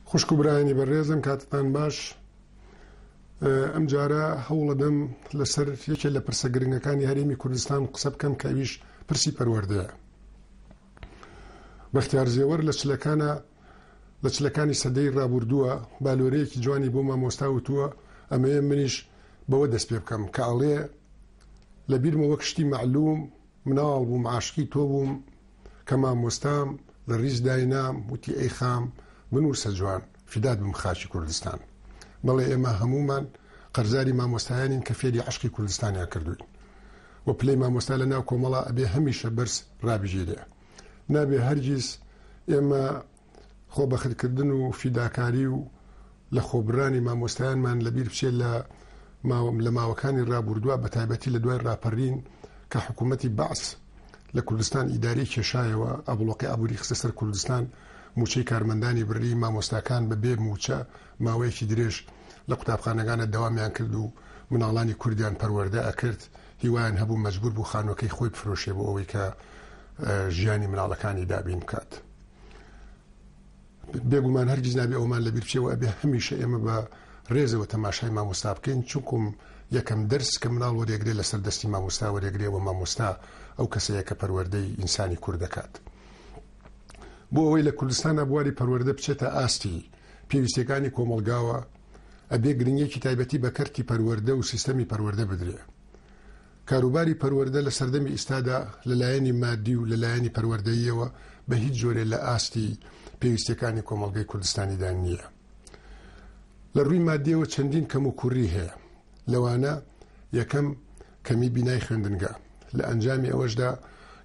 خوشک و برایانی بەڕێزم کاتتان باش ئەم جارە هەوڵەدەم لەسەر یەکێ لە پرسە گرنگەکانی هەرێمی کوردستان قسە بکەم کە ئەویش پرسی پەروەردەیە بەختیار زێوەر لە چلەکانە لە چلەکانی سەدەی ڕابردووە بالۆرەیەکی جوانی بۆ مامۆستا وتووە ئەمەیە منیش بەوە دەست پێ بکەم کە ئەڵێ لە بیرمە وەک شتی معلوم مناڵ بووم عاشقی تۆ بووم کە مامۆستام لە ڕیز داینام وتی ئەی خام بنووسە جوان فیدات بم خاکی کوردستان بەڵێ ئێمە هەموومان قەرزاری مامۆستایانین کە فێری عەشقی کوردستانیان کردووین و پلەی مامۆستا لە ناو کۆمەڵە ئەبێ هەمیشە بەرز ڕابژێرێ نابێ هەرگیز ئێمە خۆبەخرکردن و فیداکاری و لە خۆبرانی مامۆستایانمان لەبیر بچێت لە ماوەم لە ماوەکانی ڕابوردووە بە تایبەتی لە دوای ڕاپەڕین کە حکوومەتی بەعس لە کوردستان ئیداری کێشایەوە ئەبڵۆقی ئابووری خستە سەر کوردستان موچەی کارمەندانی بڕی مامۆستاکان بە بێ موچە ماوەیەکی درێژ لە قوتابخانەکانە داوامیان کرد و مناڵانی کوردیان پەروەەردە ئەکرد هیوایان هەبوو مەجبور بوو خانوەکەی خۆی بفرۆشێ بۆ ئەوەی کە ژیانی مناڵەکانی دابین بکات. بێگومان هەرگیز نابێ ئەومان لە بیرچەوە ئەبێ هەمیشە ئێمە بە ڕێزەوە تەماشای مامۆستا بکەین چونکم یەکەم دەرس کە مناڵ وەرێگرێ لەسەر دەستی مامۆستا وەرێگرێەوە مامۆستا ئەو کەسەیە کە پەروەردەی ئینسانی کورد دەکات. بۆ ئەوەی لە کوردستانە بواری پەروەەردە بچێتە ئاستی پێویستەکانی کۆمەلگاوە ئەبێ گرنگێکی تایبەتی بە کەرتی پەروەەردە و سیستەمی پەروەەردە بدرێ کاروباری پەروەردە لە سەردەمی ئیستادا لە لایەنی مادی و لە لایەنی پەروەردەییەوە بە هیچ جۆرێ لە ئاستی پێویستیەکانی کۆمەڵگەی کوردستانیدا نییە. لە ڕووی مادیەوە چەندین کەم و کووری هەیە. لەوانە یەکەم کەمی بینای خوێندنگە. لە ئەنجامی ئەوەشدا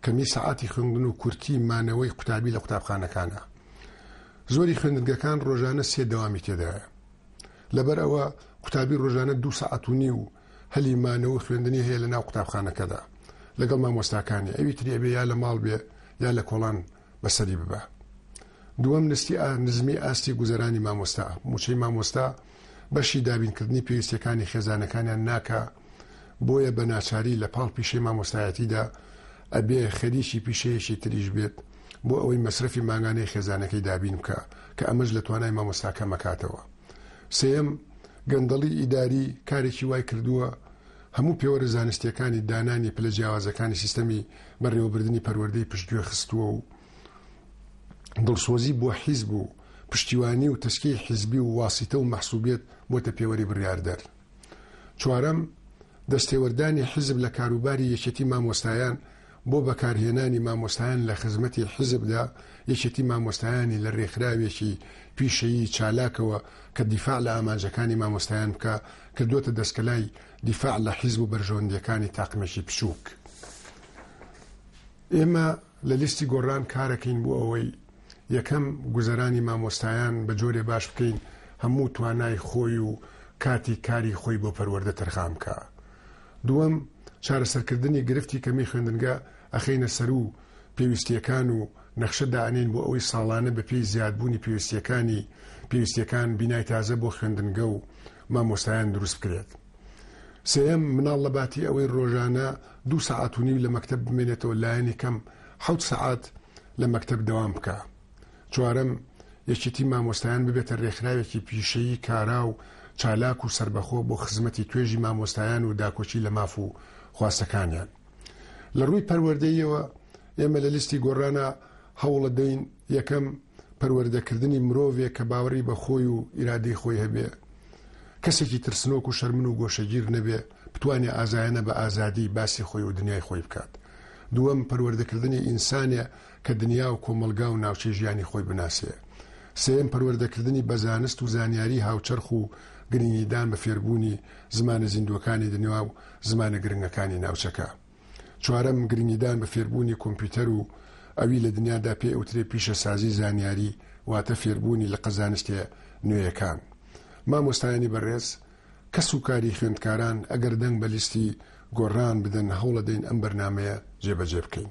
کەمی سەعاتی خوێندن و کورتی مانەوەی قوتابی لە قوتابخانەکانە. زۆری خوێندنگەکان ڕۆژانە سێ دەوامی تێدایە. لەبەر ئەوە قوتابی ڕۆژانە دوو سەعات و نیو هەلی مانەوە و خوێندنی هەیە لەناو قوتابخانەکەدا لەگەڵ مامۆستاکانی ئەوی تری ئەبێ یا لە ماڵ بێ یا لە کۆڵان بەسەری ببا دووەم نستی ئا نزمی ئاستی گوزەرانی مامۆستا موچەی مامۆستا بەشی دابینکردنی پێویستەکانی خێزانەکانیان ناکە بۆیە بە ناچاری لە پاڵ پیشەی مامۆستایەتیدا ئەبێ خەریکی پیشەیەکی تریش بێت بۆ ئەوەی مەسرفی ماگانەی خێزانەکەی دابین بکە کە ئەمەش لە توانای مامۆستاکە مەکاتەوە سێیەم، گەندەڵی ئیداری کارێکی وای کردووە هەموو پێوەرە زانستییەکانی دانانی پلە جیاوازەکانی سیستەمی بەڕێوەبردنی پەروەردەی پشتگوێ خستووە و دڵسۆزی بۆ حیزب و پشتیوانی و تەسکی حیزبی و واسیتە و مەحسوبیەت بۆتە پێوەری بڕیاردەر. چوارەم، دەستێوەردانی حیزب لە کاروباری یەکێتی مامۆستایان بۆ بەکارهێنانی مامۆستایان لە خزمەتی حیزبدا، یەکێتی مامۆستایانی لە رێکخراوێکی پیشەیی چالاکەوە کە دیفاع لە ئامانجەکانی مامۆستایان بکا، کردووەتە دەسکەلای دیفاع لە حیزب و بەرژەوەندییەکانی تاقمێکی بچووک. ئێمە لە لیستی گۆڕان کارەکەین بۆ ئەوەی، یەکەم، گوزەرانی مامۆستایان بە جۆرێ باش بکەین هەموو توانای خۆی و کاتی کاری خۆی بۆ پەروەردە تەرخان بکا. دووەم، چارەسەرکردنی گرفتی کەمی خوێندنگە ئەخەینە سەرو پێویستییەکان و نەخشە دائەنێین بۆ ئەوەی ساڵانە بەپێی زیادبوونی پێویستییەکانی پێویستییەکان بینای تازە بۆ خوێندنگە و مامۆستایان دروست بکرێت. سێیەم، مناڵ لەباتی ئەوەی رۆژانە دوو سەعات و نیو لە مەکتەب بمێنێتەوە لایەنی کەم حەوت سەعات لە مەکتەب دەوام بکا. چوارەم، یەکێتی مامۆستایان ببێتە رێکخراوێکی پیشەیی کارا و چالاک و سەربەخۆ بۆ خزمەتی توێژی مامۆستایان و داکۆکی لە ماف و خواستەکانیان. لە رووی پەروەردەییەوە ئێمە لە لیستی گۆڕانا هەوڵەدەین، یەکەم، پەروەردەکردنی مرۆڤێک کە باوەڕی بە خۆی و ئیرادەی خۆی هەبێ، کەسێکی ترسنۆک و شەرمن و گۆشەگیر نەبێ، بتوانێ ئازایانە بە ئازادی باسی خۆی و دنیای خۆی بکات. دووەم، پەروەردەکردنی ئینسانێ کە دنیا و کۆمەڵگا و ناوچەی ژیانی خۆی بناسێ. سێیەم، پەروەردەکردنی بە زانست و زانیاریی هاوچەرخ و گرنگیدان بە فێربوونی زمانە زیندووەکانی دنیا و زمانە گرنگەکانی ناوچەکە. چوارەم، گرنگیدان بە فێربوونی کۆمپیوتەر و ئەوی لە دنیادا پێ ئەوترێ پیشەسازیی زانیاری، واتە فێربوونی لقە زانستییە نوێیەکان. مامۆستایانی بەڕێز، کەس و کاری خوێندکاران، ئەگەر دەنگ بە لیستی گۆڕان بدەن، هەوڵەدەین ئەم بەرنامەیە جێبەجێ بکەین.